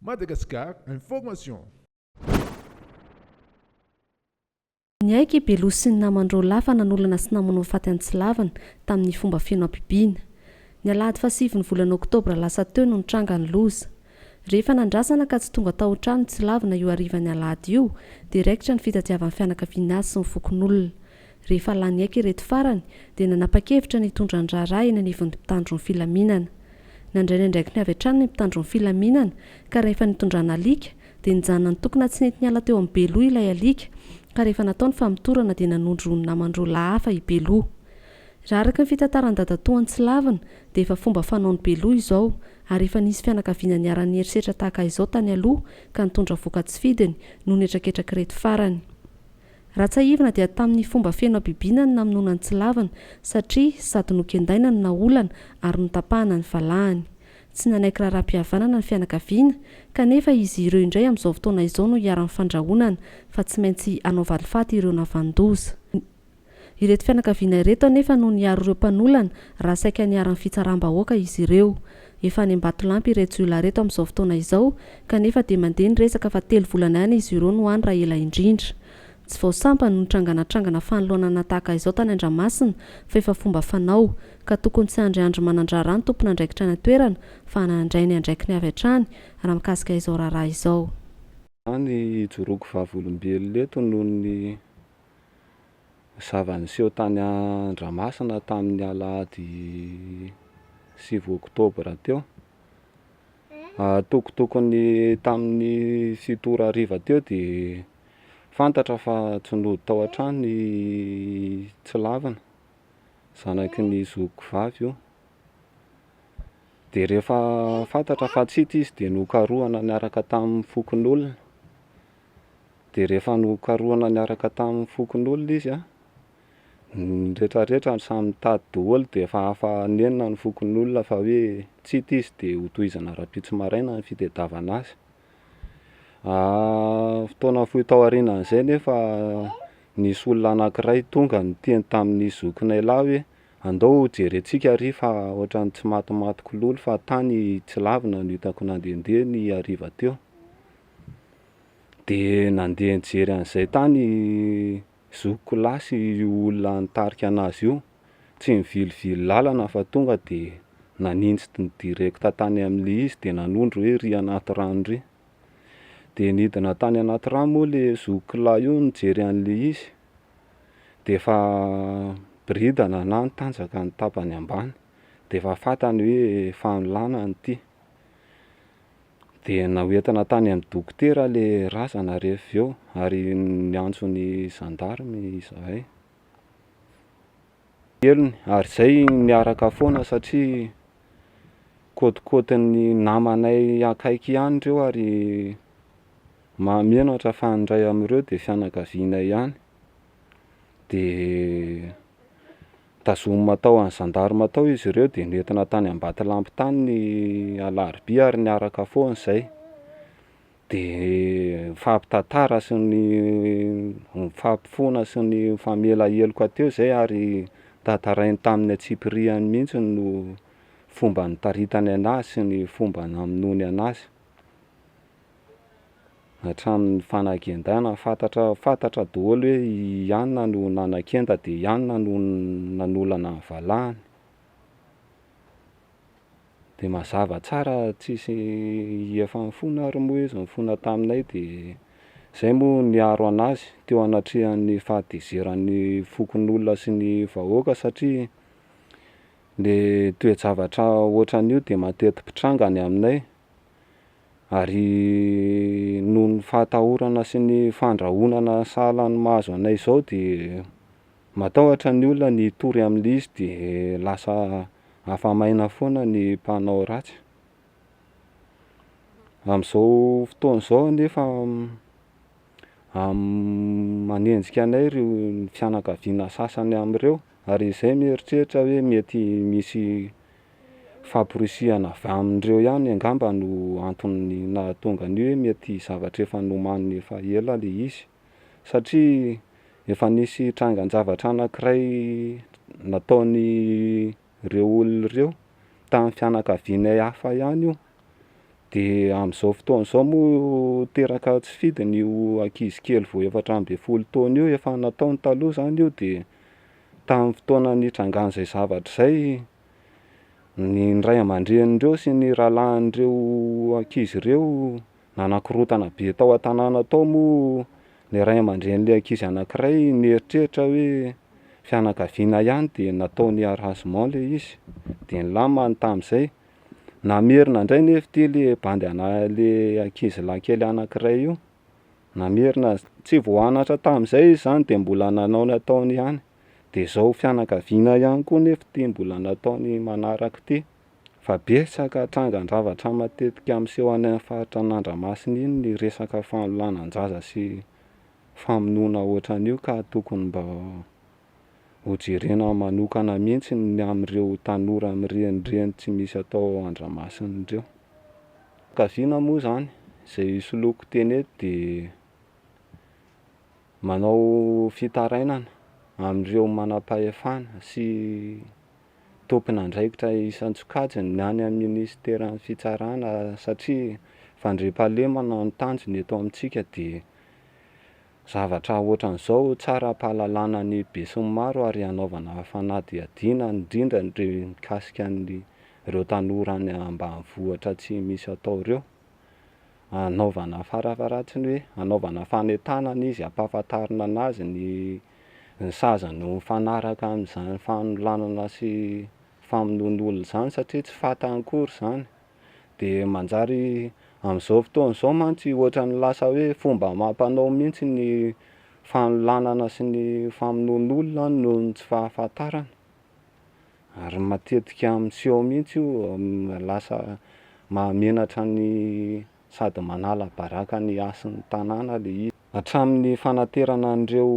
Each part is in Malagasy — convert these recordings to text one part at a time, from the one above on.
Madagascar Information. Niaiky i Beloha sy ny naman-dRaolah fa nanolana sy namono faty an'i Tsilavina tamin'ny fomba feno habibiana. Ny alahady fahasivin'ny volana oktobra lasa teo no nitranga ny loza. Rehefa nandrasana ka tsy tonga tao an-trano i Tsilavina io harivan'ny alahady io dia raikitra ny fitadiavan'ny fianakaviany azy sy ny fokonolona. Rehefa lany aika ireto farany dia nanapa-kevitra ny hitondra ny raharaha eny anivon'ny mpitandro ny filaminana. Nandray ny andraikiny avy hatrany ny mpitandro ny filaminana ka rehefa nitondrana alika dia nijanona nitokona tsy nety niala teo amin'i Beloha ilay alika ka rehefa natao ny famotorana dia nanondro roa namany roa lahy hafa i Beloha. Raha araka ny fitantaran'i dadatoa any Tsilavina dia efa fomba fanaon'i Beloha izao ary efa nisy fianakaviana niharan'ny herisetra tahaka izao tany aloha ka nitondra voka-tsy fidiny noho ny hetraketrak'ireto farany. Raha tsiahivina dia tamin'ny fomba feno habibiana ny namonoana an'i Tsilavina satria sady nokendaina no naolana ary notapahana ny valahany. Tsy nanaiky raharaham-pihavanana ny fianakaviana kanefa izy ireo indray amin'izao fotoana izao no iharan'ny fandrahonana fa tsy maintsy hanao valifaty ireo navan-doza. Ireto fianakaviana ireto anefa no niaro ireo mpanolana raha saika niharan'ny fitsaram-bahoaka izy ireo. Efa any Ambatolampy ireto jiolahy ireto amin'izao fotoana izao kanefa dia mandeha ny resaka fa telo volana ihany izy ireo no any raha ela indrindra. Tsy vao sampany no nitranganantrangana fanoloanana tahaka izao tany Andramasina fa efa fomba fanao ka tokony tsy handry andro manan-draharaha ny tompon'andraikitra any an-toerana fa handray ny andraikiny avy hatrany raha mikasika izao raharaha izao. Any hijoroako vavolombelona eto noho ny zava-niseho tany Andramasina tamin'ny alahady sivy oktobra teo. Tokotokony tamin'ny fito ora hariva teo dia fantatra fa tsy nody tao an-trano ny tsy lavina, zanaky ny zokiko vavy io. Dia rehefa fantatra fa tsy hita izy dia nokarohana niaraka tamin'ny fokonolona. Dia rehefa nokarohina niaraka tamin'ny fokonolona izy an, ny retraretra samy nitady daholo dia efa afa nenina ny fokonolona fa hoe tsy hita izy dia ho tohizana rahampitso maraina ny fitedavana azy. Fotoana fohy tao aorianan'izay nefa nisy olona anankiray tonga niteny tamin'ny zokinay lahy hoe andao ho jerentsika ary fa ohatran'ny tsy matimaty kololo fa tany tsy lavina no hitako nandehandeha ny hariva teo. De nandeha nijery an'izay tany i zokiko lahy sy io olona nitarika an'azy io, tsy nivilivily lalana fa tonga de naninjy direct tany amle izy de nanondro hoe ry anaty rano ry, de nidina tany anaty rano moa le zokiko lahy io nijery an'le izy, de efa biridana na nitanjaka ny tapany ambany, de efa fantany hoe efa nilana ity. Dia nahoentana tany amin'ny dokotera ilay razana rehefa avy eo ary niantso ny gendarme izahay. Helony, ary izay niaraka foana satria kôtikôtin'ny namanay akaiky ihany ireo ary mahamenatra fa ny iray amin'ireo dia fianakavianay ihany. Dia Tazomina tao an'ny zandarima tao izy ireo dia nentina tany Ambatolampy tany ny alarobia ary niaraka foana izay. Dia nifampitantara sy ny nifampifoana sy nifamela heloka teo izay ary tantarainy tamin'ny antsipiriany mihitsy no fomba nitaritany an'azy sy ny fomba namonoany an'azy. hatramin'ny fanagendana fantatra fantatra daholo hoe i anona no nanakenda dia i anona no nanolana ny valahany dia mazava tsara tsisy hihefan'ny fona ary moa izy nifona taminay dia zay moa niaro anazy teo anatrehan'ny fahatezeran'ny fokonolona sy ny vahoaka satria le toe-javatra ohatran'io dia mateti-pitranga any aminay Ary noho ny fahatahorana sy ny fandrahonana sahala ny mahazo anay izao dia matahotra ny olona ny hitory amin'ilay izy dia lasa afa-maina foana ny mpanao ratsy. Amin'izao fotoana izao anefa manenjika anay ireo ny fianakaviana sasany amin'ireo ary izay mieritreritra hoe mety misy Fahaporisihana avy amin'ireo ihany angamba no antony nahatonga ny hoe mety zavatra efa nomaniny efa ela ilay izy. Satria efa nisy trangan-javatra anankiray nataon'ireo olona ireo tamin'ny fianakavianay hafa ihany io. Dia amin'izao fotoana izao moa teraka tsy fidiny io ankizy kely vao efatra ambin'ny folo taona io, efa nataony taloha izany io dia Tamin'ny fotoana nitrangan'izay zavatra izay, ny ray aman-drenin'ireo sy ny rahalahin'ireo ankizy ireo nanakorontana be tao an-tanàna tao moa ny ray aman-drenin'ilay ankizy anankiray nieritreritra hoe fianakaviana ihany dia nataony harasement ilay izy, dia nilamany tamin'izay. Namerina indray anefa ity ilay bandy anà- ilay ankizilahy kely anankiray io. namerina azy, tsy vao anatra tamin'izay izy izany dia mbola nanao ny ataony ihany, dia izao fianakaviana ihany koa nefa ity mbola nataony manaraka ity, fa betsaka trangan-javatra matetika miseho any amin'ny faritra an'Andramasina iny ny resaka fanolanan-jaza sy famonoana ohatran'io ka tokony mba Ho jerena manokana mihitsy ny amin'ireo tanora mirenireny tsy misy atao ao Andramasina ireo. Fianakaviana moa izany, izay hisoloako teny eto dia manao fitarainana amin'ireo manam-pahefana sy tompon'andraikitra isan-tsokajiny ny any amin'ny minisiteran'ny Fitsarana satria fandriampahalemana no tanjona eto amintsika dia Zavatra ohatran'izao tsara ampahalalana ny besinimaro ary hanaovana fanadihadiana indrindra ny mikasika an'ireo tanora any ambanivohitra tsy misy atao ireo. Hanaovana farafaharatsiny hoe hanaovana fanentanana izy hampahafantarina an'azy ny ny sazany ho mifanaraka amin'izany fanolanana sy famonoan'olona izany satria tsy fantany akory izany. dia manjary amin'izao fotoana izao mantsy ohatran'ny lasa hoe fomba amam-panao mihitsy ny fanolanana sy ny famonoan'olona noho ny tsy fahafantarana, ary matetika miseho mihitsy io lasa mahamenatra ny sady manala baraka ny hasin'ny tanàna ilay izy. Hatramin'ny fanaterana an'ireo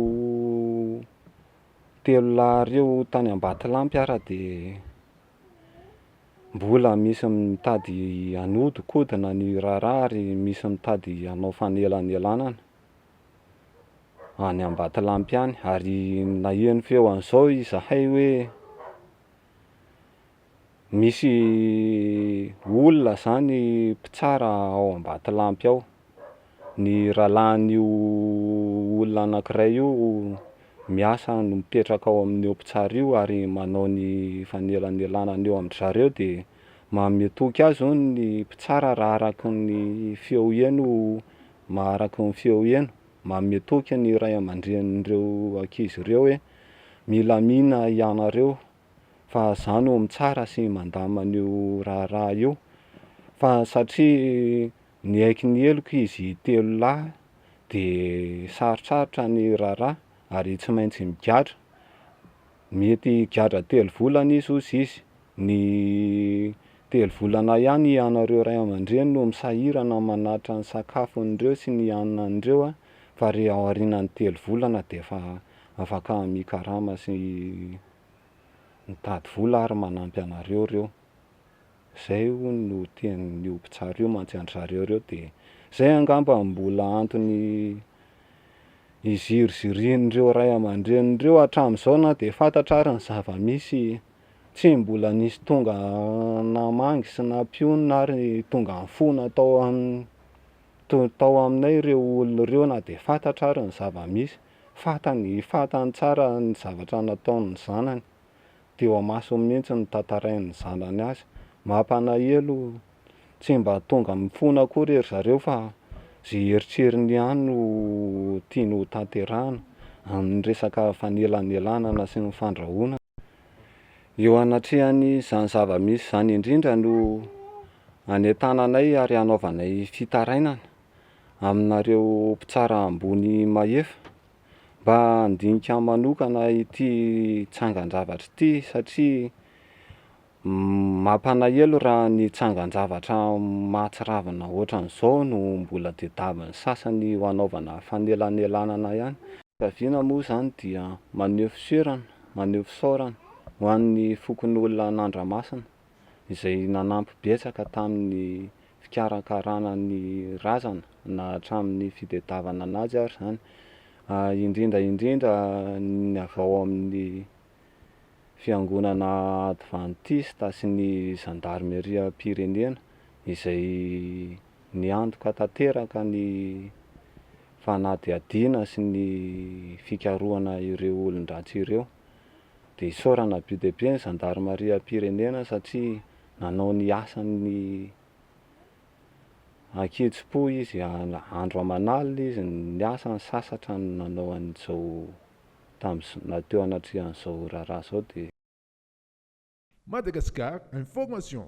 telo lahy ireo tany Ambatolampy ary dia Mbola misy mitady hanodinkodina ny raharaha ary misy mitady hanao fanelanelanana any Ambatolampy any ary naheno feo an'izao izahay hoe misy olona izany mpitsara ao Ambatolampy ao. ny rahalahin'io olona anankiray io miasa no mipetraka ao amin'io mpitsara io ary manao ny fanelanelanana eo amin-dry zareo dia manome toky azy hono ny mpitsara raha araka ny feo heno ma- araka ny feo heno, manome toky ny ray aman-drenin'ireo ankizy ireo hoe milamina hianareo fa izaho no mitsara sy mandamina an'io raharaha io fa satria Niaiky ny heloka izy telo lahy dia sarotsarotra ny raharaha ary tsy maintsy migadra. Mety higadra telo volana izy hozy izy. Ny telo volana ihany ianareo ray aman-dreny no misahirana manatitra ny sakafon'ireo sy ny haninan'ireo fa re ao aorianan'ny telo volana dia efa afaka mikarama sy mitady vola ary manampy anareo ireo. Zay hono no tenin'io mpitsara io mantsy an-dry zareo reo dia zay angamba no mbola antony izirizirian'ireo ray aman-dreny ireo hatramin'izao na dia fantatra ary ny zava-misy tsy mbola nisy tonga namangy sy nampionona ary tonga nifona tao amin'ny to- tao aminay ireo olona ireo na dia fantatra ary ny zava-misy, fantany fantany tsara ny zavatra nataon'ny zanany. Teo amasony mihitsy no nitantarain'ny zanany azy. Mampanahelo, tsy mba tonga mifona akory ery zareo fa ze heritreriny ihany no tiany ho tanterahana amin'ny resaka fanelanelanana sy ny fandrahonana. Eo anatrehan'izany zava-misy izany indrindra no anentananay ary anaovanay fitarainana aminareo mpitsara ambony mahefa Mba handinika ahy manokana ity tsangan-javatra ity satria mampalahelo raha ny tsangan-javatra mahatsiravina ohatran'izao no mbola tadiavin'ny sasany ho anaovana fanelanelanana ihany. Fiaviana moa izany dia maneho fiserana, maneho fisaorana ho an'ny fokonolona an'Andramasina. izay nanampy betsaka tamin'ny fikarakarana ny razana na hatramin'ny fitediavana an'azy ary izany, indrindra indrindra ny avy ao amin'ny fiangonana advantista sy ny zandarimeriam-pirenena izay niantoka tanteraka ny fanadihadiana sy ny fikarohana ireo olon-dratsy ireo. dia isaorana be dia be ny zandarimariam-pirenena satria nanao ny asany an-kitsim-po izy, andro aman'alina izy niasa, nisasatra nanao an'izao tamin'izao, teo anatrehan'izao raharaha izao dia. Madagascar Information.